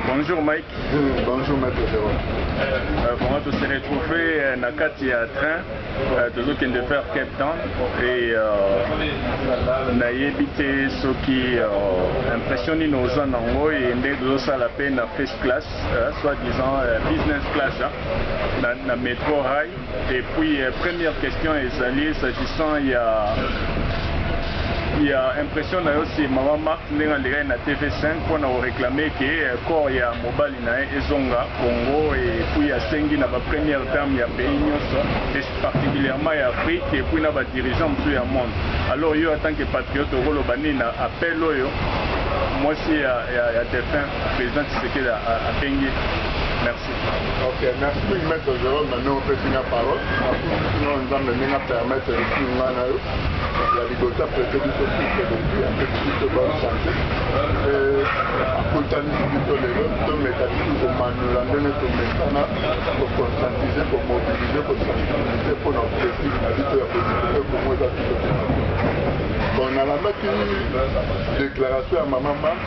Bonjour Mike. Mmh, bonjour Maître Jérôme. Euh, vraiment, on s'est retrouvé euh, na kati ya train euh, tozokende faire Cape Town et nayebi te soki impression nini oza nango e nde tozosala mpe na first class soit disant business class na metro high Et puis euh, première question ezali s'agissant ya ya impression na yo si mama Marthe ndenge alekaki na TV5 mpo na koreklame ke euh, corps ya mobali na ye ezonga Congo et puis asengi na ba première dame ya pays nyonso et particulièrement ya Afrique et puis na ba dirigeants mosusu ya monde alors yo en tant que patriote okoloba nini na appel oyo mwasi ya, ya, ya défunt président Tshisekedi abengi Ok, merci mingi maître Jérôme na ndenge opesi nga parole nakuti no nzambe ndenge apermettre esi nga na yo ya liboso aprete biso sise lobi apesi biso bonne santé akutanisi biso lelo tomeka bisu komanula ndenge tomesana koconstantize komobilize kosensibilize mpo na objectif na biso ya kozikipe kongo eza biso bon nalandaki déclaration ya mama mark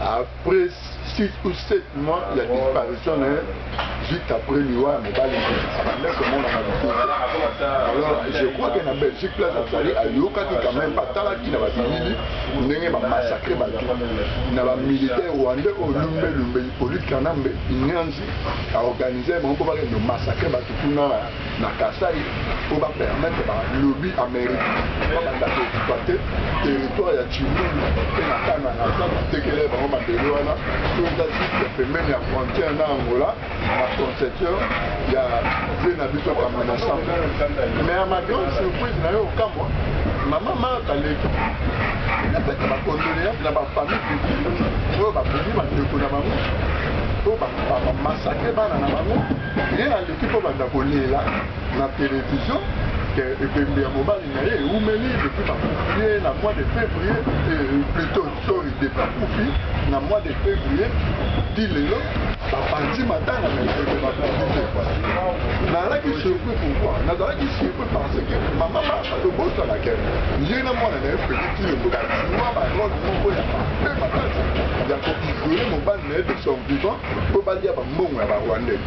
après 6 ou 7 mois ya disparition na ye juste après liwa ya mobali abanda komonana lisusu alors je crois que na belgique place azali ayokaki quand même atalaki na babilili ndenge bamassacre bato na bamilitaire rwandais oyo lumbe lumbe hippolyte kanambe inyanzi aorganise bango mpo bakende massacre bato kuna na Kasaï pour ba permettre ba lobby américain ba banda ko occuper territoire ya Tshilumbi et na Kananga ça ba tekele bango mabele wana to eza juste pembeni ya frontière na Angola na conception ya vie na biso kama na samba mais à ma grande surprise na yo okamwa mama Martha Leki napesa ba condoléances na ba famille victime oyo bakomi bandeko na bango oyo bamasakre bana na bango Tika obanda kolela na television que ebembe ya mobali na ye eumeli depuis bakufi ye na mois de février euh, plutôt sorry de bakufi na mois de février ti lelo bapanzi matanga na ebembe bapanzi te nazalaki surpris pourquoi nazalaki surpris parce que mama masa tobosana ke ye na mwana na ye fredi tilelo bazua barole moko ya mabe makasi ya koisole mobali na ye de son vivant mpo balia bambongo ya barwandais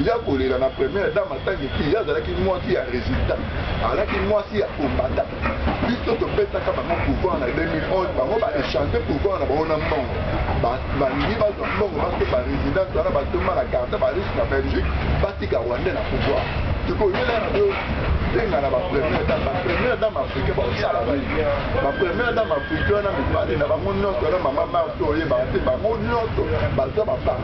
ya kolela na première dame atangi ki ye azalaki mwasi ya résultat azalaki mwasi ya kombata biso topesaka bango pouvoir na 2011 bango baéchange pouvoir na bango na mbongo balingi bazwa mbongo basoba résidence wana batoma na garde barise na belgique batika rwandais na pouvoir tokoyela na yo benga na bapremière dame bapremière dame africain bakosala nini bapremière dame africain wana mibale na bango nyonso wana mama marto oyebaka te bango nyonso baza bapar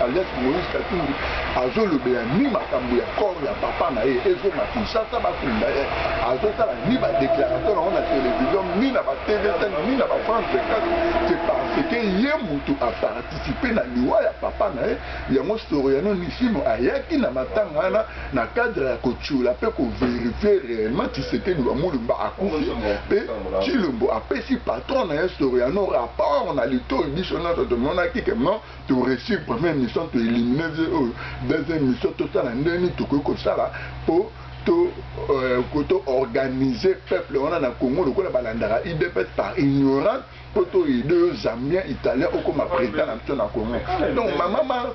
Alias Moïse Katumbi azolobela ni makambo ya corps ya papa na ye ezonga Kinshasa bakunda ye azotala ni ba déclaration nango na télévision ni na ba TV ni na ba France 24 c'est parce que ye mutu a participer na liwa ya papa na ye yango Soriano Nisimo ayaki na matanga wana na cadre ya kotiola mpe kovérifier réellement Tshisekedi wa Mulumba akufi mpe Tshilombo apesi patron na ye Soriano rapport na litoyi biso nyonso tomonaki que non to reussir première mission to éliminer vieux oyo deuxième mission tosala ndenge nini tokoki kosala mpo to euh, to organiser peuple wana na Congo lokola balandaka IDPS par ignorance mpo to aide yo zambien italien okoma président na biso na Congo donc mama Mars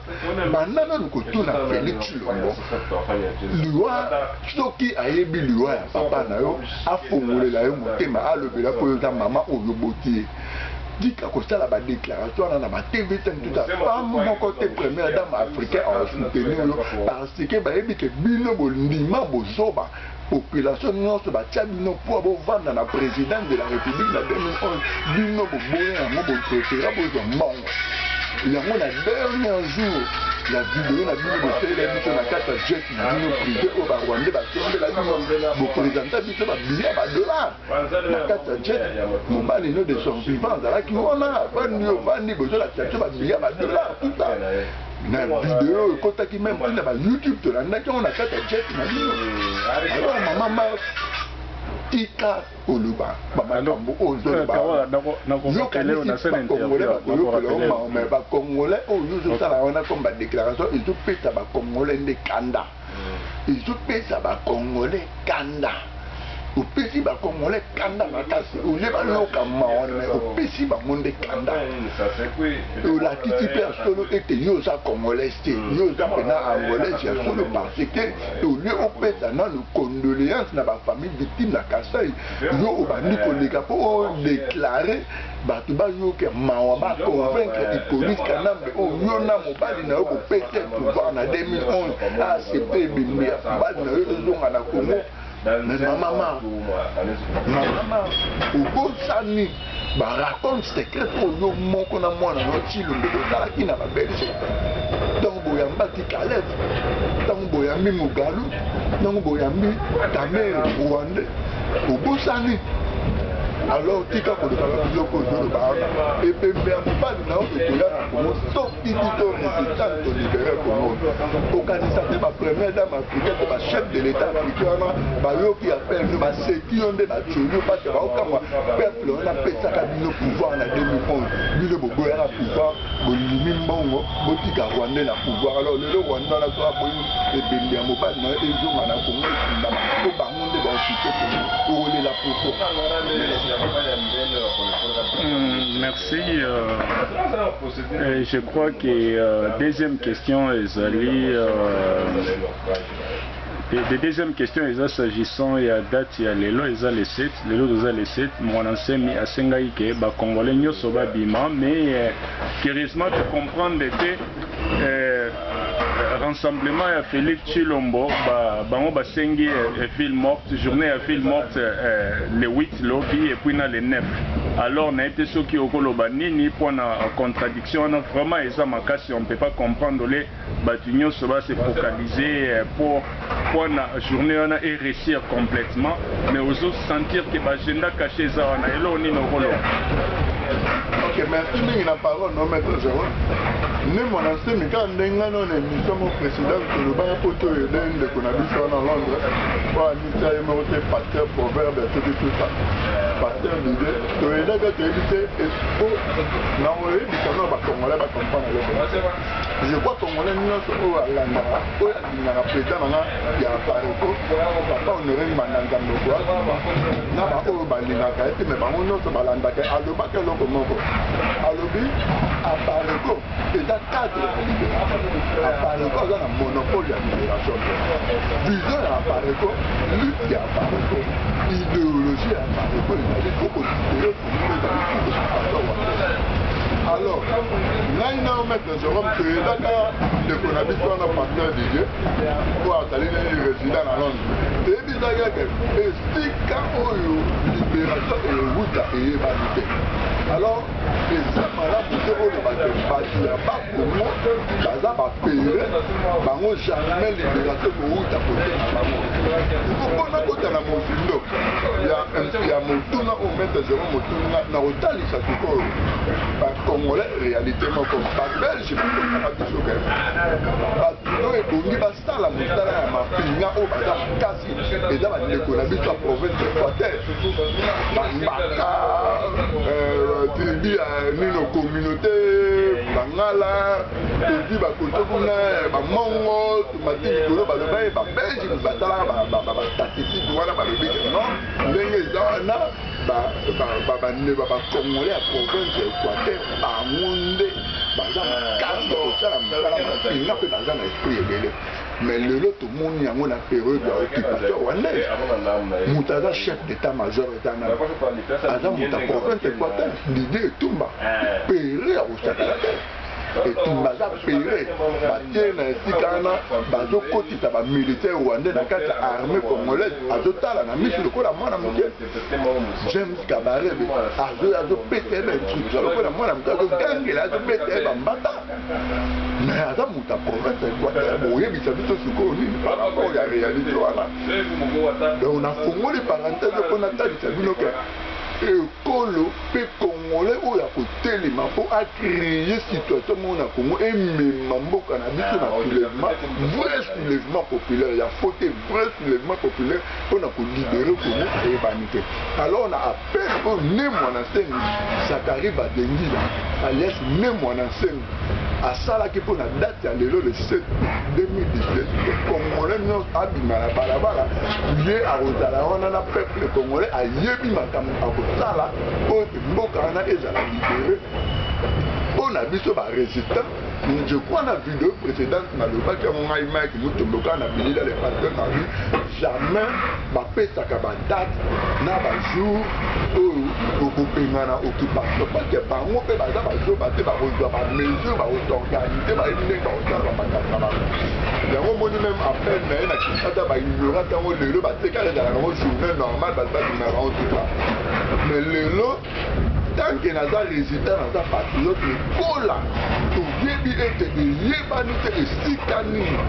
banda nanu kotuna Félix Tshilombo liwa soki ayebi liwa ya papa na yo afongolela yo motema alobela mpo yo oza mama oyo oboti ye Dika kosala ba declaration wana na ba TV te mtu ta femme moko te première dame africaine a soutenir yo parce que bayebi ke bino bondima bozoba population nyonso batia bino mpo bovanda na président de la république na 2011 bino boboya yango boprefera bozwa mbongo yango na dernier jour ya video na bino bosalela biso na kati ya jet na bino privé oyo barwandais basombela bino bopresenta biso babilia badollar na kati ya jet mobali no de son vivant azalaki wana avandi ovandi bozolakisa biso babiya badolar tuta na video ekotaki meme ti na ba youtube tolandaki yango na kati ya jet na bino alors mama mars tika koloba bamakambo oyo ozolobakongolais bakoyokela maome bakongolais oyo ozosala wana comme badéclaration ezopesa bakongolais nde kanda ezopesa bakongole kanda opesi bakongole kanda makasi olie baloka mawa me opesi bango nde kanda olakisi mpe ya solo ete yo oza congolais te yo oza mpena angolais ya solo parce que olie opesa nano condoléance na bafamille victime na kasai yo obandi koleka mpo odeklare bato bayoka mawa ba convaincre Hippolyte Kanambe oyo oh, yo na mobali na yo bopete pouvoir na 2011 a accepte ebembe ya mobali na yo ezonga na Congo mais mama mama mama obosani baracole secret oyo yo moko na mwana na yo cilombe bozalaki na babelge donc boyambaki kaleb ntango boyambi mugalu ntango boyambi kamere rwande obosani alors tika kolobaka biloko ozoloba wana ebembe ya mobali na yo ekoya na kongo to idi to resistance tolibere kongo okanisa te bapremier dame africain to bachef de l'état africain wana bayoki ya perne baseki yo nde batioli yo parce baokamwa peuple wana apesaka bino pouvoir na 2011 bino boboyaka pouvoir bondimi mbongo botika rwandais na pouvoir alors lelo rwanda wana soki aboyi ebembe ya mobali na yo ezonga na kongo ekundama po bango nde baokipe kongo okolela poto hmm, merci euh, euh, je crois que euh, deuxième question ezali euh, Et de deuxième question eza s'agissant ya date ya lelo eza le 7 lelo toza le 7 mwana nsemi asengaki ke ba congolais nyoso babima mais euh, curieusement to comprendre que euh, rassemblement ya Félix Chilombo ba, bango basengi euh, ville morte journée ya ville morte euh, le 8 lobi et puis na le 9 alors na ete soki okoloba nini mpo na contradiction wana vraiment eza makasi on peut pas comprendre le batu nionso ba se focaliser pour pour na journee wana e reussir complètement mais ozo sentir que ba agenda cache eza wana eloko nini okoloba ok merci mingi na parole no maître zero nde mwana nsemi kaka nde ngai no na émission mo président tolobaka mpo to ede ndeko na biso wana londres oyo amisa ye moko te pasteur proverbe atoki tout ça pasteur lide toyedaka toyebi te espo na koyebisa no bacongolais bacomprendre eloko Je crois congolais nyonso oyo alandaka oyo alingaka president nanga ya pareko papa honore mbanda nzambe okoakuma na baoyo balingaka ye te me bango nyonso balandaka alobaka eloko moko alobi apareko eza cadre ya liberation apareko aza na monopole ya liberation vision ya apareko lutte ya apareko ideologie ya apareko ezali koko libere alors ngai na maître jérôme toyedaka ndeko na biso wana pasteur didier mpo azali nini résident na londre toyebisaki yake esika oyo libération ewuta eyebani te alors eza malamu te oyo bato ya Congo baza ba pere bango jamais liberation kowuta kote na bango ikopona kota na mozindo ya motuna oyo maitre zero motuna na kotalisa sikoyo bacongolais réalité moko babelge bikosaka biso kaka bato oyo ebongi tala motala ya mapinga oyo baza makasi eza bandeko na biso ya province equateur bambaka euh, tribu ya nino communauté bangala tozwi bakoto kuna bamongo tomati likolo baloba ye babelge batalaka bastatistike wana balobi non ndenge eza wana ba bande ba bacongolais ya province ya équateur bango nde baza makasi kosala mosala mapinga mpe baza na esprit ebele mais lelo tomoni yango na periode ya occupation rwandaise moto aza chef d'état major eza na aza moto ya province équateur didie etumba pere ya kosakela te etumba baza pere batie na esika wana bazokotisa bamilitaire rwandais na kati ya armée congolaise azotala na miso lokola mwana moke james kabarebe azoya azopesa ye bainstruction lokola mwana moke azogangela azobeta ye bambata me aza moto ya province ya equateur boyebisa biso sikoyo nini par rapport ya réalité wana donc nafongoli parenthèse mpo natalisa bino ke kolo pe congolais oyo ako telema po a cree situation moko na congo emema mboka na biso na soulevement vrai soulevement populaire ya faut te vrai soulevement populaire pona ko libere congo eyebani te alors na appel oyo ne muana nsemi zakari badengila alias ne muana nsemi asalaki mpo na date ya lelo le 7 2017 congolais nyonso abima na balabala ye akozala wana na peuple congolais ayebi makambo akosala mpo mboka wana ezala libere mpo na biso baresultat je crois na video précédente nalobaki yango ngai mike mutomboka na bilila le pasteur na Jamais bapesaka ba date na ba jour oyo tokobengana occupation parce que bango mpe baza bazoba te bakozwa ba mesure bakosorganize bayebi ndenge bakosala bamakambo na bango yango omoni meme appel na ye na kinshasa baignorant yango lelo batekala ezalaka yango journée normale bato babimaka yango tuta mais lelo tanke naza resident naza patriote lokola toyebi ete eyebani te esika nini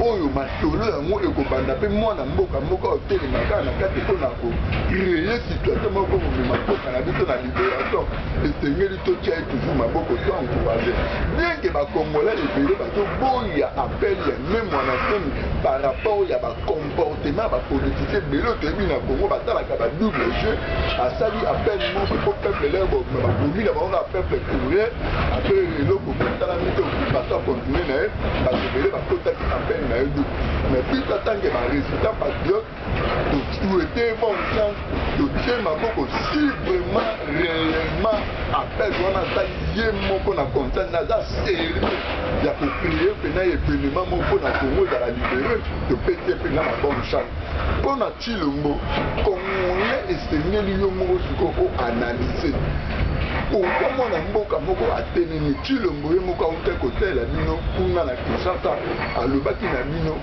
oyo masolo yango ekobanda mpe mwana mboka moko otelema kaka na kati mpo na kocreye situation moko komema mboka na biso na liberation esengeli totya ye toujours maboko to encourage bienke bakongolais ebele bazoboya appel ya me mwana semi par rapport ya bakong comportement ya bapolitike ebele oyo toyebi na congo batalaka ba double jeu asali appel moko mpo peuple leo bobima bakomi na bango na peuple courrier ape eloko botalami te bato akontinue na ye bato ebele bakotaki appel na ye du mais biso atanke baresultat patriote tosuete bon sens totie maboko si vraiment réellement appel wana asali ye moko na conscience naza sérieux ya kocreye mpena evenema moko mpo na congo ezala libere topeti mpe na babonne chance mpo na chilombo congolais esengeli yo moko sikoyo oanalyse pourkui mwana mboka moko atelemi chilombo ye moko autai kotalela bino kuna na kinshasa alobaki na bino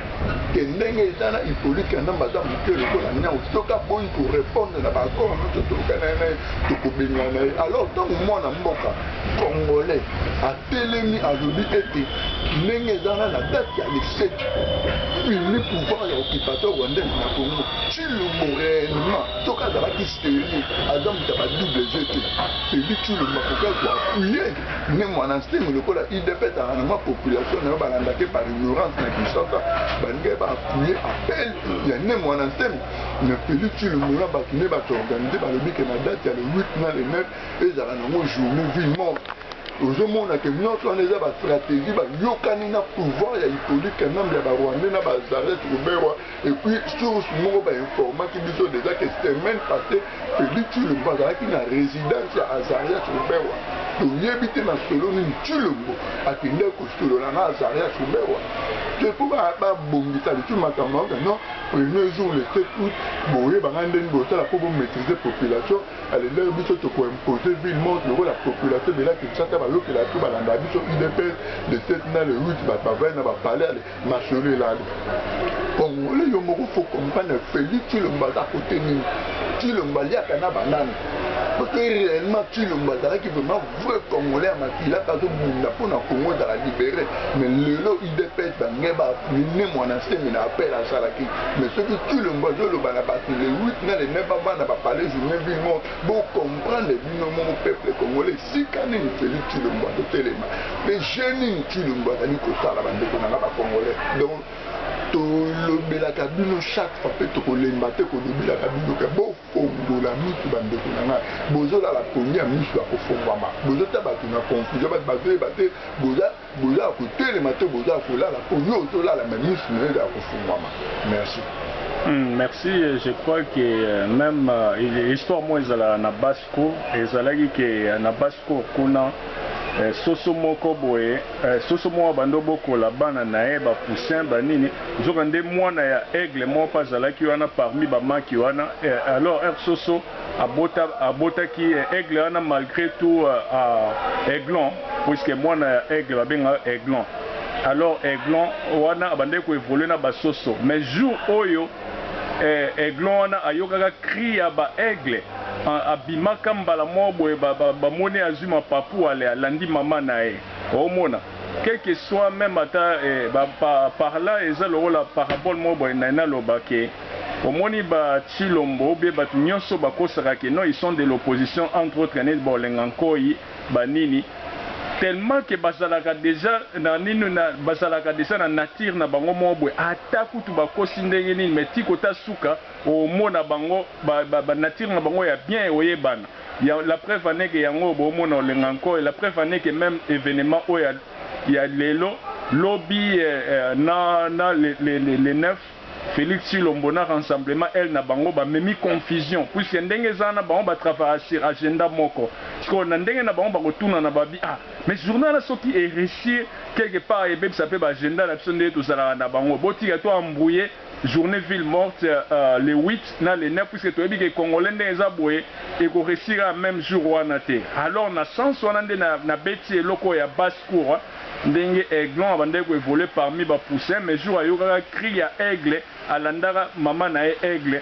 ke ndenge eza na hipolite kanambe aza moke lokola nyau soki aboyi korepondre na baakor nyonso tokana ye na ye tokobengana ye alors ntango mwana mboka congolais atelemi alobi ete ndenge eza na na date ya le 7 fini pouvoir ya occupation rwandaise na congo cilombo réellement soki azalaki serie aza moto ya ba double jeu te feli cilombo akoki azwa apuye nde mwana nsengo lokola idp ezalaka na mwa population na yo balandaki par ignorance na kinshasa balingaki baapuye appel ya nde mwana nsengo na feli cilombo na bato nde bato organise balobi ke na date ya le 8 na le 9 ezala nango journée vie morte ozomona ke nyonso wana eza bastratégie bayokani na pouvoir ya hippolyte kanambe ya barwandais na bazaret ruberwa epuis source moko bainformaki biso deja ke semaine passé feli tulombo azalaki na résidence ya azarias ruberwa toyebi te masolo nini tulombo akendaki kosolola na azarias ruberwa te mpo babongisa lisusu makambo yango non premier jour le 7 août boyebanga ndeni bosala mpo bomaîtrise population A l'heure biso toko imposer ville morte lokola population ebela Kinshasa ba yokela biso ba landaka biso udps le 7 na le 8 bato ba vandi na ba palais ale masolo elali congolais yo moko faut comprendre Felix Tshilombo aza cote nini Tshilombo aliaka na ba nani parce que reellement Tshilombo azalaki vraiment vrai congolais ya makila mpe azobunda mpo na congo ezala libere mais lelo udps bange ba ne mwana nsemi na appel asalaki mais soki tulombo azoloba na bato le 8 na le 9 bavanda bapale journée ville moko bocomprendre bino moko peuple congolais esika nini felix tulombo azotelema mpe je nini tulombo azali kosala bandeko na nga bacongolais donc tolobelaka bino chaque fois mpe tokolemba te kolobelaka bino ke bo Obongola misu ba ndeko na nga bozo lala pongi ya misu ya kofongwama bozo tia batu na confusion batu bazo yeba te boza boza ya kotelema te boza ya kolala po yo ozo lala mais misu nayo eza ya kofongwama merci. Hum, merci. Je crois que euh, même euh, histoire moi ezalaka na Basco, ezalaki que euh, na Basco kuna soso moko boye Eh soso moko abanda obokola bana naye ba poussin ba nini nzoka nde mwana ya aigle moko pe azalaki wana parmi ba maki wana eh alors heure soso abota abotaki eh aigle wana malgre tout ah aiglon puisque mwana ya aigle ba bengaka aiglon alors aiglon wana abandaki ko evolue na ba soso mais jour oyo Eh aiglon wana ayokaka cri ya ba aigle abimaka mbala moko boye ba moni azui mapapu ale alandi maman naye omona quelque soit meme ata eh par là eza lokola parabole moko boye naye naloba ke omoni ba tshilombo ou bien batu nioso bakosaka ke non ils sont de l'opposition entre autres neti ba olenga nkoyi ba nini tellement que bazalaka dejà na nini na bazalaka dejà na nature na bango moko boye ata kutu bakosi ndenge nini mais ti kota suka omona bango ba ba nature na bango ya bien oyebana ya la preuve en est que yango oyo bomona olenga nko et la preuve en est que meme evenement oyo ya ya lelo lobi eh, eh, na na le le le 9 Felix tshilombo na ransemblement elle na bango ba memi confusion puisque ndenge eza wana bango ba travaillaka sur agenda moko sikoyo na ndenge na bango bako tunana ba bi ah mais journal wana soki e reussir quelque part ebebisa pe ba agenda na biso ndenge tozalaka na bango botika to embrouille journee ville morte le 8 na le 9 puisque toyebi ke congolais ndenge eza boye eko reussir kaka meme jour wana te alors na sens wana nde na beti eloko oyo ya basse cour Ndenge Aiglon abandaki ko evoluer parmi ba poussins mais jour ayokaka cri ya Aigle alandaka mama na ye Aigle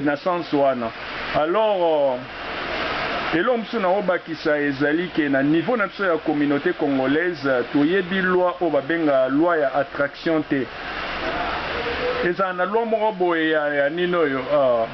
na sens wana. Alors eloko mosusu nako bakisa ezali ke na niveau na biso ya communaute congolaise toyebi loi oyo ba benga loi ya attraction te. Ezala na loi moko boye ya ya nini oyo ahh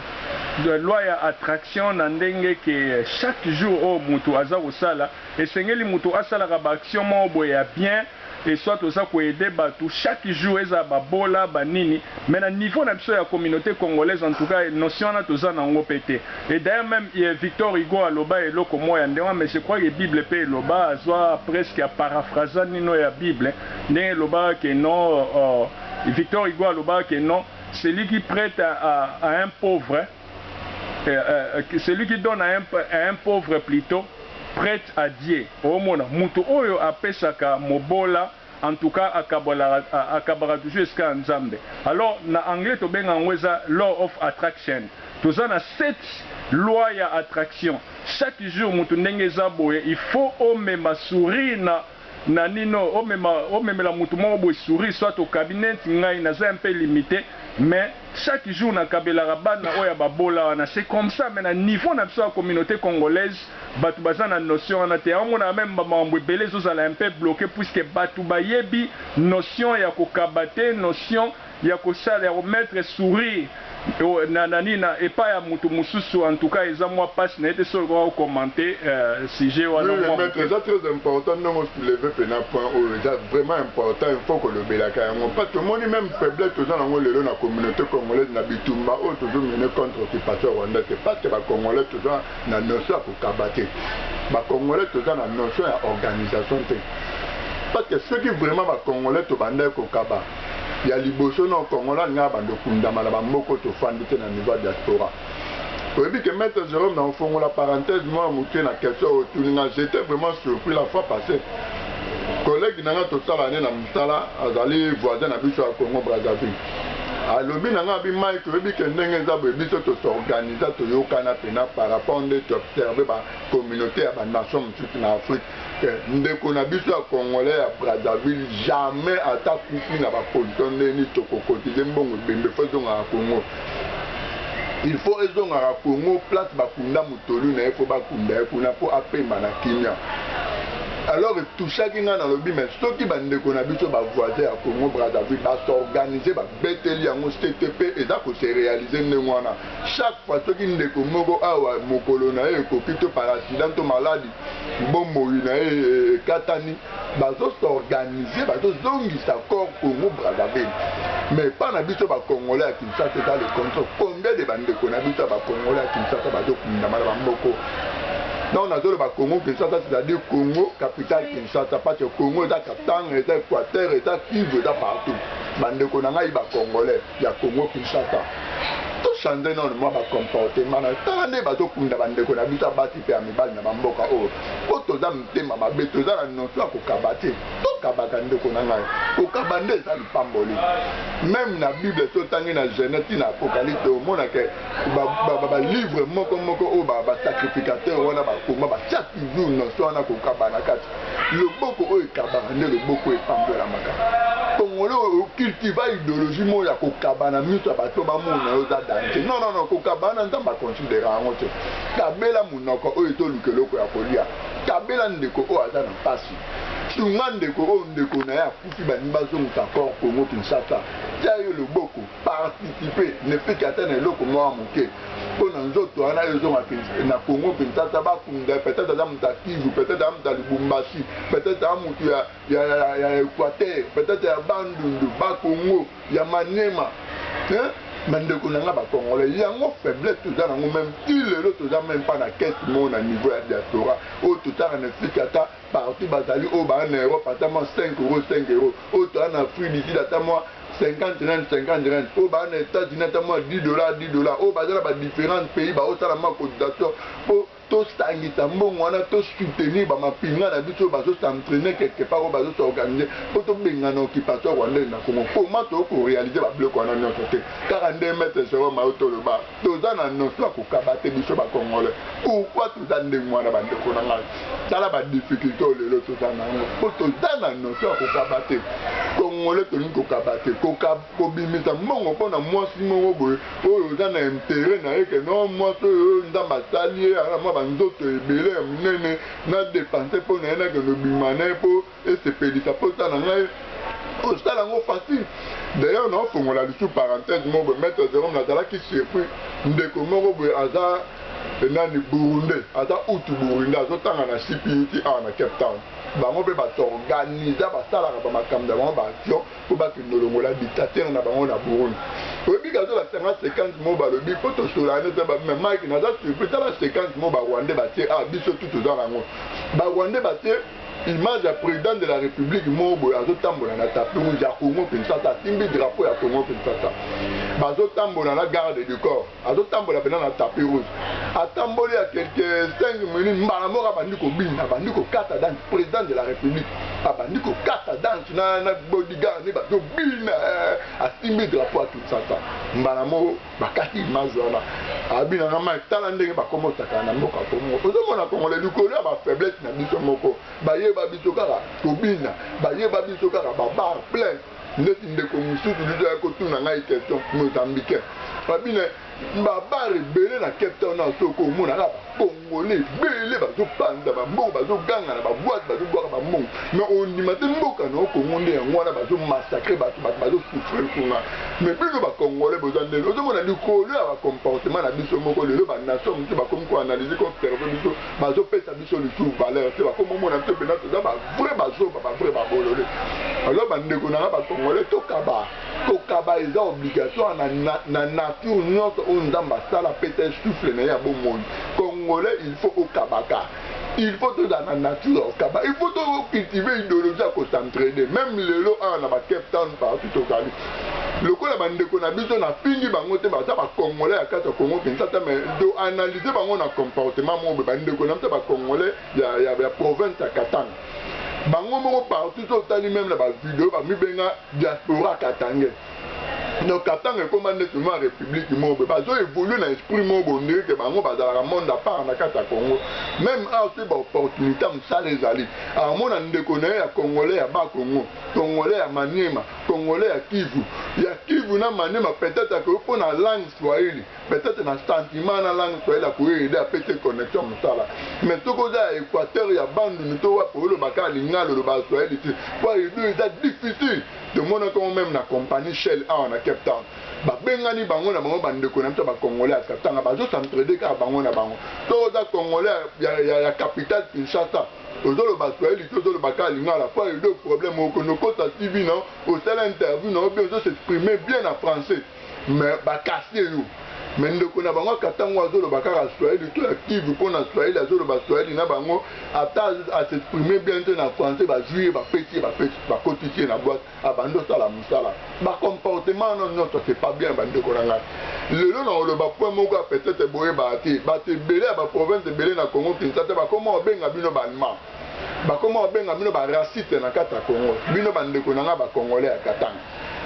loi ya attraction na ndenge ke chaque jour oyo mutu aza kosala Esengeli mutu asalaka ba action moko boye ya bien et soit oza ko aide batu chaque jour ezala ba bola ba nini mais na niveau na biso ya communaute congolaise en tout cas notion wana toza na ngo pe te et d'ailleurs meme Victor Hugo aloba eloko moko ya ndenge wana mais je crois que bible pe eloba azua presque a paraphraza nini oyo ya bible ndenge elobaka que non Victor Hugo alobaka que non celui qui prete à un pauvre eh, eh, celui qui donne à un, à un pauvre plutôt prête à Dieu. Omona mutu oyo apesaka mobola en tout cas akabolaka akabaka toujours esika ya Nzambe. Alors na anglais tobenga yango eza law of attraction. Toza na cette loi ya attraction. Chaque jour mutu ndenge eza boye, il faut omema sourire na Nanino omema omemela mutu moko boye souris soit okabi neti ngai naza un peu limite mais chaque jour nakabelaka bana oyo ya ba bola wana c'est comme ça mais na niveau na biso ya communaute congolaise batu baza na notion wana te yango omonaka meme ba makambo ebele ezozala un peu bloque puisque batu bayebi notion ya kokaba te notion ya ko sala ya ko mettre sourire na na nini na epai ya mutu mususu en tout cas eza mua pasi nayebi te soki olukaka ko commente sujet wana mua muke. Oui le maitre eza très important ndenge o soulever pena point oyo eza vraiment important il faut kolobelaka yango parce que omoni meme faiblesse toza na yango lelo na communaute congolaise na bitumba oyo tozo mener contre occupation rwandaise c'est parce que ba congolais toza na notion ya kokaba te ba congolais toza na notion ya organisation te parce que soki vraiment ba congolais tobandaki kokaba Ya liboso non congolais alinga abanda okundama na ba mboko tofandi te na niveau ya diaspora oyebi ke maitre Jerome na ofongola parenthèse moko ya mukie na question oyo otuni nga j'etais vraiment surpris la fois passe collègue na nga tosalaka nde na musala azali voisin na biso ya Congo Brazzaville alobi na nga abi Mike oyebi ke ndenge eza boye biso to s'organisa toyokana pena par rapport nde tu observer ba communaute ya ba nation mususu na Afrique te ndeko na biso ya congolais ya Brazzaville jamais ata kufi na ba pollution ndenge nini toko cotiser mbongo ebembe faut ezongaka Congo il faut ezongaka Congo place bakunda mutolu na ye faut bakunda ye kuna po apema na kimia alors etouchaki ngai nalobi mais soki bandeko na biso ba voisin ya Congo Brazzaville ba s'organiser babeteli yango CTP eza ko se realiser ndenge wana chaque fois soki ndeko moko awa mokolo na ye ekoki to par accident to maladi bomoi na ye ekatani bazo s'organiser bazozongisa corps Congo Brazzaville mais epa na biso bakongole ya Kinshasa eza le contraire combien de bandeko na biso ya bakongole ya Kinshasa bazokundama na bamoko donc nazoloba Congo Kinshasa c'est-à-dire Congo capitale Kinshasa parce que Congo eza Katanga eza Equateur eza Kivu eza partout bandeko na ngai bakongole ya Congo Kinshasa to changer nanu mwa ba comportement nayo tala nde bazo kunda ba ndeko na biso ya basi pe ya mibali na ba mboka oyo po toza mitema mabe toza na notion ya kokaba te to kabaka ndeko na ngai kokaba nde eza lipamboli meme na bible so tangi na genese ti na apocalypse omona ke ba, ba, ba, ba livre moko moko oyo ba, ba sacrificateur wana bakoma batia toujours notion wana kokaba na kati loboko oyo ekabaka nde loboko epambolamaka congolais oyo cultiva idéologie moko ya kokaba na miso ya bato bamona yo oza danger non non non kokaba na nzambe aconsidera yango te kabela monoko oyo ezoluka eloko ya kolia kabela ndeko oyo aza na mpasi sunga ndeko oyo ndeko na ye akufi balingi bazongisa corps congo kinshasa tia ye loboko participe ne fut que ata na eloko mwa moke mpo na nzoto wana ezonga na Congo Kinshasa bakunda peut-être aza moto ya Kivu peut-être aza moto ya Lubumbashi peut-être aza moto ya, ya, ya, ya Equateur peut-être ya Bandundu ba Congo ya Maniema hein? bandeko na nga bakongole yango faiblesse toza nango meme ti lelo toza meme mpa na kese moo na niveau ya diaspora oyo totanga na efiki ata Partout bazali oyo ba na Europe ata mwa 5 euros 5 euros oyo toza na Afrique du Sud ata mwa 50 rand 50 rand oyo ba na Etats-Unis ata mwa 10 dollars 10 dollars oyo baza na ba differents pays ba osala mwa cotisation po to sangisa mbongo wana to soutenir ba mapinga na biso oyo bazo s'entraîner quelque part oyo bazo s'organiser po to bengana occupation rwandaise na Congo comment to ko realiser ba biloko wana nionso te kaka nde maître Jérôme autoloba toza na notion ya kokaba te biso ba congolais pourquoi toza ndenge wana ba ndeko na ngai tala ba difficulté oyo lelo toza na yango po toza na notion ya kokaba te congolais tolingi kokaba te kobimisa mbongo mpo na mwasi moko boye oyo oza na intere na ye ke no mwasi oyo nzambe asali ye ana mwa banzoto ebele ya monene na depense mpo na ye nakende obima na ye mpo Esepelisa posa na ngai osala yango facile d'ailleurs na ofongola lisu parenthèse moko boye maître Jerome nazalaki surpris ndeko moko boye aza eh, nani burundais aza utu burundais azotanga na CPUT awa na Cape Town bango mpe basorganiza basalaka bamakambo na bango baaction mpo bakende olongola dictateur na bango na Burundi oyebi kazolakisa nga sequence moko balobi mpo tosolane mpe babima mike naza surpris tala sequence moko barwandais batie a ah, biso tu toza na yango barwandais batie Image ya president de la republique moko boye azotambola na tapis rouge ya Congo Kinshasa, asimbi drapeau ya Congo Kinshasa, bazotambola na garde du corps, azotambola pena na tapis rouge, atamboli ya quelque 5 minutes, mbala moko abandi kobina, abandi kokata danse, president de la republique abandi kokata danse na, na bodyguard ne bazobina, eh, asimbi drapeau ya Kinshasa mbala moko. bakati image wana abina nga mai tala ndenge bakoma otakana na mboka kongo ozomona kongola likolo ya bafaiblesse na biso moko bayeba biso kaka kobina bayeba biso kaka babar plein ndeti ndeko mosusu biso ya kotuna ngai question mozambicain babina babar ebele na cape town na soko omonaka Congolais ebele bazo panza ba mbongo, bazo ganga na ba boite, bazo bwaka ba mbongo mais ondima te mboka na yo Congo nde yango wana bazo massacre batu, batu bazo souffrir kuna mais bino ba congolais boza ndeni? Ozo mona likolo ya ba comportement na biso moko lelo ba nation mususu bakomi ko analyse ko observer biso bazo pesa biso lisusu valeur te bakomi omona biso penza toza ba vrai ba zoba ba vrai ba bolole alors ba ndeko na nga ba congolais tokaba Kokaba eza obligatoire na, na, na nature nionso oyo Nzambe asala apesa ye souffle na ye ya bomoi. Congolais il faut okabaka. Il faut tozala na nature ya kokaba. Il faut to cultiver ideologie ya ko s'entraider. Meme lelo awa na ba Cape Town partout tozali. Lokola ba ndeko na biso na fingi bango te baza ba Congolais ya kati ya Congo Kinshasa mais to analyser bango na comportement moko ba ndeko na biso ba Congolais ya, ya, ya province ya Katanga. Bango moko partout to tali meme na ba video ba mibenga Diaspora katangais donc katanga ekoma ndeti mua republique moko boye bazo evoluer na esprit moko boye on dirait que bango bazalaka monde à part na kati ya congo meme awa soki ba opportunite ya musala ezali amona ndeko na ye ya congolais ya bas congo congolais ya maniema congolais ya kivu ya kivu na maniema peut etre akoki pona langue swahili peut-être na sentiment na langue swahili akoyo aide ape te connexion mosala mais soki oza ya équateur ya bandundu to wapi oloba kaka lingala oloba ya swahili te mpo aido eza difficile tomonaka yango meme na compagnie shell awa na cape town babengani bango na bango bandeko na biso ya bacongolais ya katanga bazosentrede kaka bango na bango soki oza congolais ya, ya, ya, ya capitale kinshasa ozoloba swahili te ozoloba kaka lingala mpo aido problème okonokosa tv na osala interview na yo bien ozosexprime bien na français Mais ba casser yo. Mais ndeko na bango ya Katanga oyo azoloba kaka Swahili to ya Kivu po na Swahili azoloba Swahili na bango ata a s'exprimer bien te na Français bazui ye bapesi ye bapesi bakotisi ye na boite abandi osala musala. Ba comportement wana nionso c'est pas bien ba ndeko na ngai. Lelo nakoloba point moko ya peut-etre boyebaka te. Batu ebele ya ba provinces ebele na Congo Kinshasa bakomi kobenga bino ba Allemands. bakoma kobenga bino ba raciste na kati ya Congo bino ba ndeko na nga ba congolais ya Katanga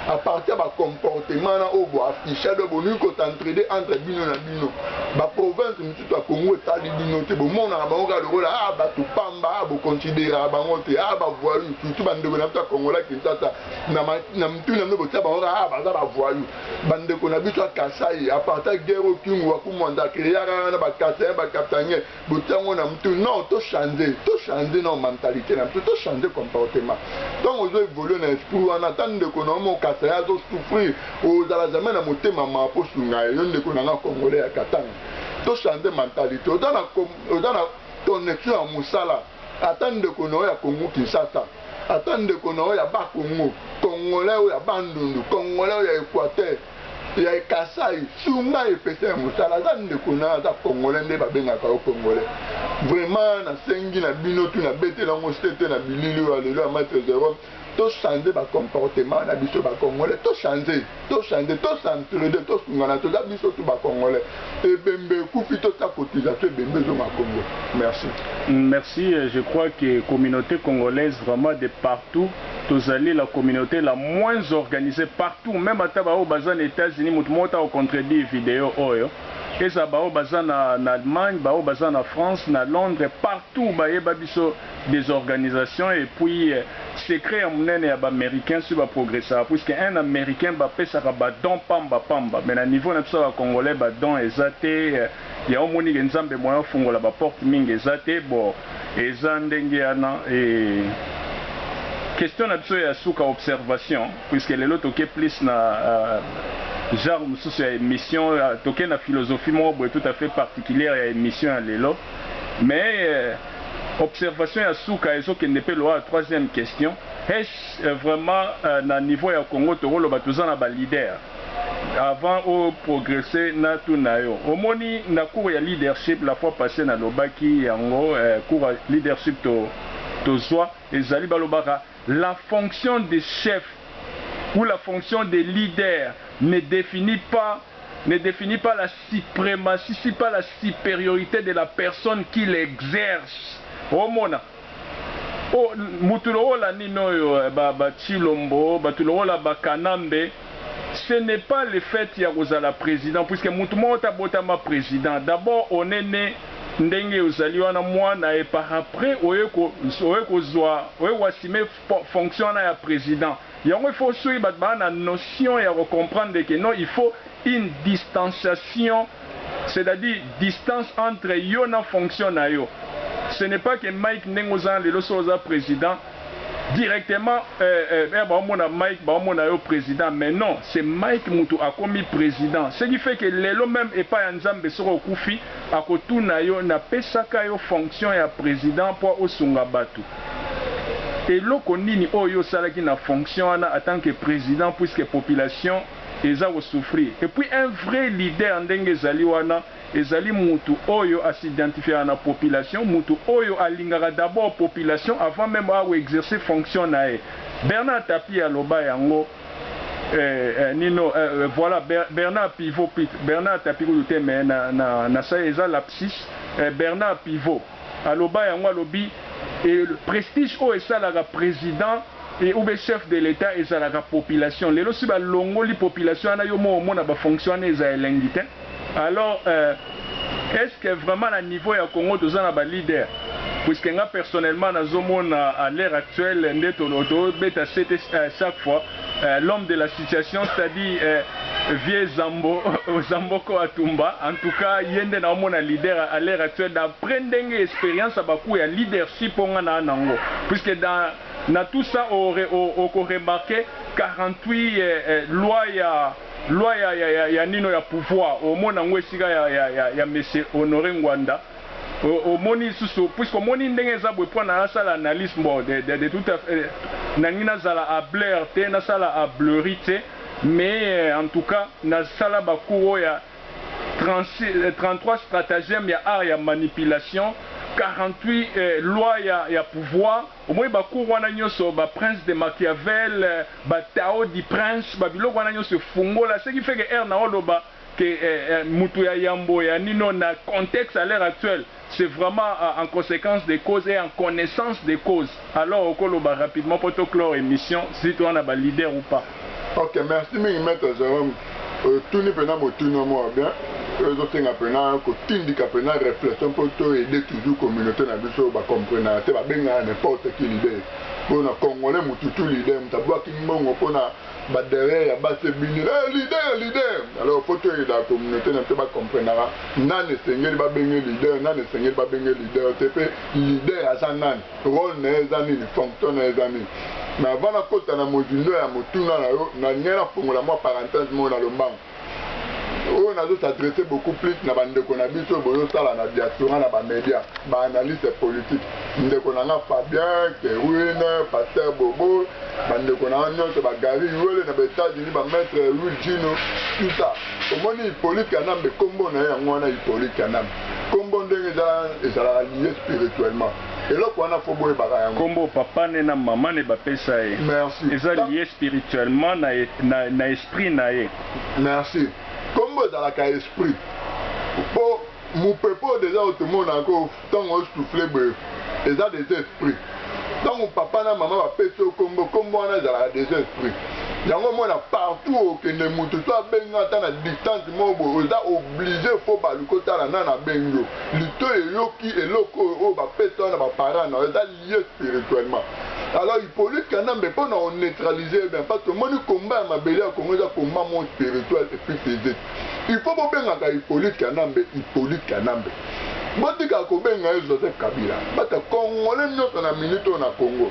à partir ya ba comportement na oyo bo afficha do bolingi ko t'entraider entre bino na bino ba province mitutu ya Congo etali bino te bomonaka bango kaka lokola a ah, bato pamba ah, bo consideraka bango te a ah, ba voyou surtout ba ndeko na biso ya Congo la Kinshasa na na mtu na bino botia bango kaka a baza ba voyou ba ndeko na biso ya Kasai à partir ya guerre oyo Kingu wa Kumwanda créaka na ba Kasaïens ba Katangais botiango na mutu non to change to change na mentalite na biso to change comportement ntango ozo évolue na esprit wana ata ndeko na yo mokasa ye azo souffrir ozala jamais na motema mawa mpo osunga ye yo ndeko na nga congolais ya katanga to change mentalite oza na, oza na connexion ya mosala ata ndeko na yo ya kongo kinshasa ata ndeko na yo ya bakongo congolais oyo ya bandundu congolais oyo ya équateur ya kasai sunga epesa ya mosala aza ndeko na aza congolais nde babengaka yo congolais vraiment nasengi na bino tu nabetela yango sete na bilili oyo alelo ya maitre jerome tochange bacomportement na biso bacongolais tochange tochange tosentrede tosungana toza biso tu bacongolais ebembe ekufi totia cotisation ebembe ezonga congo merci merci je crois que communauté congolaise vraiment de partout tozali la communaute la moins organise partout meme ata ba oyo baza na etats unis mutu moko te ako contredire video oyo ezala ba oyo baza na na Allemagne ba oyo baza na France na Londres partout ba yeba biso des organisations et puis secret ya munene ya ba americains soki ba progressaka puisque un americain ba pesaka ba dons pamba pamba mais na niveau na biso ba congolais ba dons eza te Yango omoni ke nzambe moyen ofungola ba porte mingi eza te bo eza ndenge yana eeh question na biso ya suka observation puisque lelo toke plus na genre mususu ya emission toke na philosophie moko boye tout à fait particulière ya emission ya lelo mais observation ya suka ezo kende pe loa troisième question est ce vraiment na niveau ya Congo toko loba toza na ba leader Avant o progresser na tuna yo omoni na cours ya leadership la fois passee na lobaki yango eh, cours ya leadership to tozua ezali ba lobaka la fonction de chef ou la fonction de leader ne definit pas ne definit pas la suprematie si pas la superiorite de la personne qui l'exerce omona. Oh mutu lokola nini oyo eh, ba ba tshilombo, batu lokola ba kanambe, ce n'est pas le fait ya kozala president, puisque mutu moko te abotama president, d'abord on est ne ndenge ozali wana muana et par après oye ko oye kozua oye ko assumer fonction wana ya president yango il faut soki batu baza na notion ya ko comprendre que non il faut une distanciation c'est à dire distance entre yo na fonction na yo ce n'est pas que Mike ndenge oza na lelo soki oza president directement euh euh bao mona Mike bao mona yo president mais non c'est Mike mutu akomi president ce qui fait que lelo meme epa ya Nzambe soki okufi akotuna yo na pesaka yo fonction ya president po osunga batu Eloko nini oyo yo osalaki na fonction wana en tant que president puisque population eza ko souffrir? Et puis un vrai leader ndenge ezali wana ezali mutu oyo a s'identifiaka na population, mutu oyo alingaka d'abord population avant meme a ko exercer fonction na ye. Bernard Tapie aloba yango eh eh nino eh eh voilà Bernard Pivot pit Bernard Tapie kutu te mais na na nasali eza lapsus eh Bernard Pivot. Aloba yango alobi et prestige oyo esalaka president et ou bien chef de l'etat ezalaka population lelo si ba longoli population wana yo moko omona ba fonction wana eza elengi te alors euh est ce que vraiment na niveau ya congo toza na ba leader puisque nga personnellement nazo mona à l'heure actuelle nde tolo to beta sete chaque fois Eh, l'homme de la situation c'est à dire eh, vieux zambo zamboko atumba en tout cas ye nde naomona leader à l'heure actuelle d'après ndenge expérience ya baku ya leadership oyo nga naa nango puisque dans na tout ça okoremarke 48 eh, eh, loi ya loi ya, ya, ya, ya nino ya pouvoir omona yango esika ya, ya, ya, ya monsieur honore ngwanda omoni lisusu puisque omoni ndenge eza boye po na asala analyse bon de tout à fait nangi nazala habler te nasala hablerie te mais en tout cas nasala ba cours oyo ya 33 stratagème ya art ya manipulation 48 loi ya ya pouvoir omoni ba cours wana nionso ba prince de machiavel ba tao du prince ba biloko wana nionso efungola ce qui fait que heure nao loba que mutu ya yambo ya nino na contexte à l'heure actuelle c'est vraiment en consequence de cause et en connaissance de cause alors oko loba rapidement po to clore emission si toza na ba leader ou pas. Ok merci mingi maitre Jerome otuni pena motuna mua bien oyo ezo senga pena kotindika pena reflexion po to aider toujours communaute na biso ba comprenaka te ba bengaka n'importe qui leader po na congolais mutu tout leader mutu abuaki mbongo pona ba derrière ya basi ebimi eh leader leader alors faut to aida communauté na biso ba comprenaka nani esengeli ba benge leader nani esengeli ba benge leader te pe leader aza nani role na ye eza nini fonction na ye eza nini mais avant na kota na mozindo ya motuna na yo na lingi na fongola mwa parenthèse moko na lombango oyo nazo s'adresser beaucoup plus na ba ndeko na biso oyo bozo sala na diaspora na ba media ba analyste politique ndeko na nga Fabien Kerwin pasteur Bobo ba ndeko na nga nionso ba Gary Yuele na ba Etats Unis ba maitre Louis Gino tout ça omoni Hypolite Kanambe kombo na ye yango wana Hypolite Kanambe kombo ndenge eza ezalaka liye spirituellement eloko wana faut boyebaka yango kombo papa ne na maman ne ba pesa ye merci eza liye spirituellement na na Esprit na ye. Merci. Kombo ezalaka esprit. Po mupepe oyo dejà oyo tomonaka oyo tango ozo souffler boye eza dejà esprit. Tango papa na maman ba pesi yo kombo, kombo wana ezalaka dejà esprit. Yango omona partout oyo okende mutu soit abengi yo ata na distance moko boye oza oblige faut baluka otala nani abengi yo. Litoyi eyoki eloko oyo oyo ba pesa yo na ba parents na yo. Eza. ye spirituellement alors Hyppolite Kanambe pona o neutraliser ye bien parce que tomoni combat ya mabele ya Congo eza combat moko spirituel et puis physique il faut bobengaka Hyppolite Kanambe Hyppolite Kanambe botika kobenga ye Joseph Kabila parce que congolais nionso na minute oyo na Congo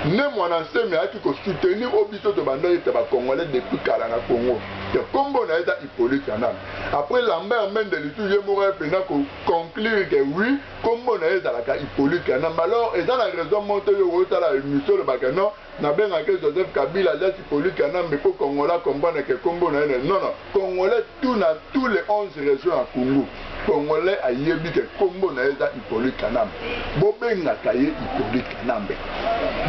ne muana nsemi ayaki ko soutenir o biso tobandaki ete ba congolais depuis kala na Congo que kombo na ye eza Hyppolite Kanambe après Lambert Mende lisusu ye moko aye pena ko conclure que oui kombo na ye ezalaka hypolite kanambe alors eza na raison moko te yo otala emission olobaka non nabengaka ye joseph kabila alias hypolite kanambe mpo congolais comprendre ke kombo na ye na non non congolais tout na tous les 11 régions ya congo congolais ayebi ke kombo na ye eza hypolite kanambe bobengaka ye hypolite kanambe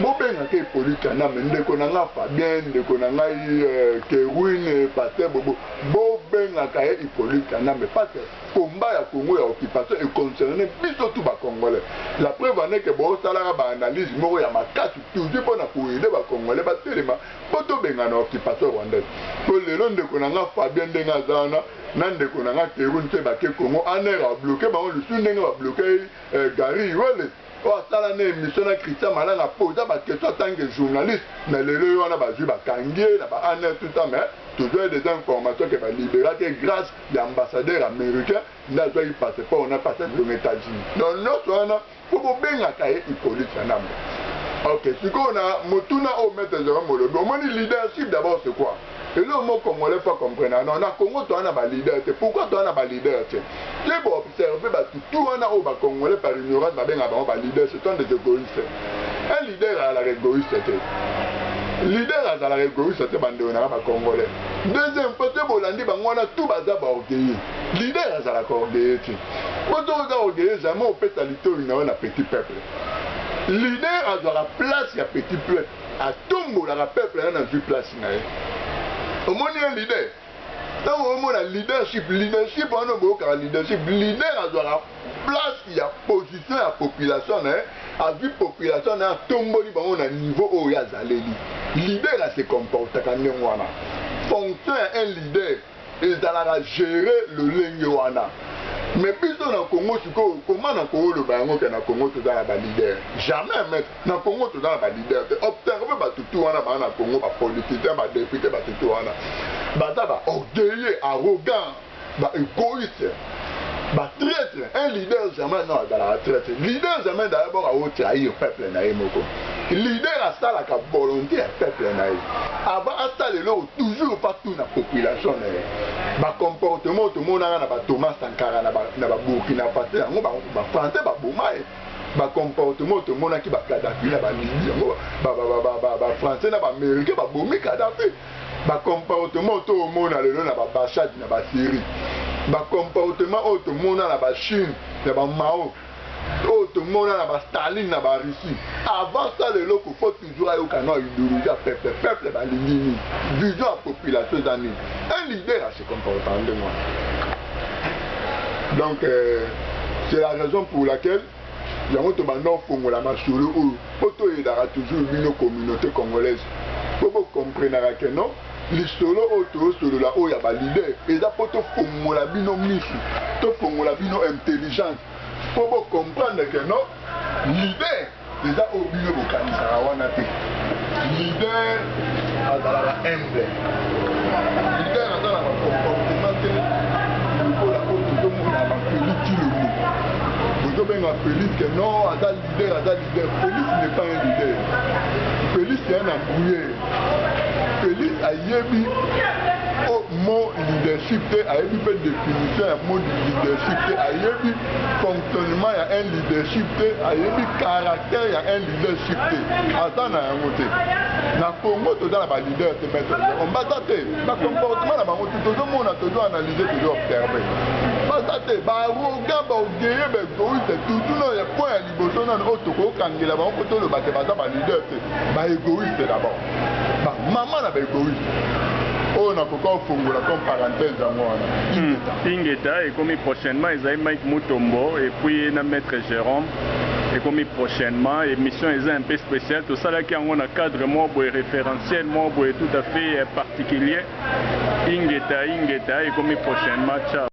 bobengaka hypolite kanambe ndeko na ngai fabien ndeko na ngai euh, kerwine paster bobo bobengaka ye hypolite kanambe parce combat ya Congo ya occupation e concerner biso tout ba congolais. La preuve en est que bo salaka ba analyses moko ya makasi toujours pona ko aider ba congolais ba telema po to bengana occupation rwandaise. Po lelo ndeko na nga Fabien ndenge aza wana na ndeko na nga Kerwin pe ba ke Congo en heure a bloquer bango lisusu ndenge ba bloquer eh, Gary Iwele oyo asala na emission na Christian Malanga poza ba question en tant que journaliste mais lelo ye wana bazwi bakangi ye na ba année tout ça mais toujours des informations que ba liberate grâce ya ambassadeur americain nde azwaki passeport na pasi akende na Etats-Unis. Donc nyonso wana mpo bobengaka ye Hippolyte Kanambe. Ok, sikoyo na motuna oyo Maître Jerome olobi, omoni leadership d'abord c'est quoi? Eloko moko Congolais faut comprendre, non, na Congo toza na ba leader te. Pourquoi toza na ba leader te? Ke bo observer batu tout wana oyo ba Congolais par ignorance babengaka bango ba leader, ce sont des egoïstes. Un leader azalaka egoïste te. Leader azalaka egoïste te bandeko na ba congolais. Deuxième fois te bolandi bango wana tout baza ba orgueilleux. Leader azalaka orgueilleux te. Bo to oza orgueilleux jamais opesa litoyi na yo na petit peuple. Leader azwaka place ya petit peuple. Atombolaka peuple na nazwi place na ye. Omoni un leader ntango omona leadership leadership wana boyokaka leadership leader azwaka place ya position ya population na ye azwi population na ye atomboli bango na niveau oyo ye azaleli leader ase comportaka ndenge wana fonction ya un leader ezalaka gere lolenge wana me biso na congo sikoyo koma na kooloba yango ke na congo toza na baleader jamais Na congo toza na ba leader te observe batu tout wana ba na congo ba politiciens ba depute batu tout wana baza ba orgueilleux arrogant ba egoiste ba traitre un leader jamais non azalaka traitre leader jamais d'abord ao trahir peuple na ye moko leader asalaka volonté ya peuple na ye avant asala eloko toujours pa tout na population na ye ba comportement tomonaka na ba Thomas Sankara na ba Burkina Faso yango ba français ba boma ye ba comportement oyo tomonaki ba Kadhafi na ba Libye yango ba ba ba ba ba français na ba américains ba bomi Kadhafi ba comportement oyo tomona lelo na ba Bachad na ba Syrie ba comportement oyo tomona na ba Chine na ba Mao oyo tomona na ba Staline na ba Russie avant ça lelo kofo Toujours ayoka na ideologie ya peuple. Peuple balingi nini? Vision ya population eza nini? Un leader a se comporta ndenge wana. Donc euh, c'est la raison pour laquelle yango tobanda ofongola masolo oyo mpo toyedaka toujours bino communauté congolaise mpo bocomprenaka ke non lisolo oyo toyosolola oyo ya balider eza mpo tofongola bino misu tofongola bino intelligence mpo bocomprendre ke non lider Eza oyo bino bokanisaka wana te. Leader azalaka humble. Leader aza na comportement te lokola oyo tozomona ba Felix Tshilombo. Bozobenga Felix que non aza leader aza leader. Felix n'est pas un leader. Felix est un embrouilleur. Felix ayebi mot leadership te ayebi mpe definition ya mot leadership te ayebi Seulement ya un leadership te ayebi caractère ya un leadership te aza na yango te na Congo toza na ba leader te maître on baza te ba comportement na bango tozomona tozo analyser tozo observer baza te ba arrogant ba orgueilleux ba égoïste toujours na ya point ya liboso nano oyo tokokangela bango mpo toloba te baza ba leader te ba égoïste d'abord ba mama na ba egoïste oyo nakoki kofongola comme parenthèse yango wana hmm, ingeta ekomi prochainement ezali mike mutombo epuis na maître jérôme ekomi prochainement émission eza un peu spéciale tosalaki yango na cadre moko boye référentiel moko boye tout à fait euh, particulier ingeta ingeta ekomi prochainement ciao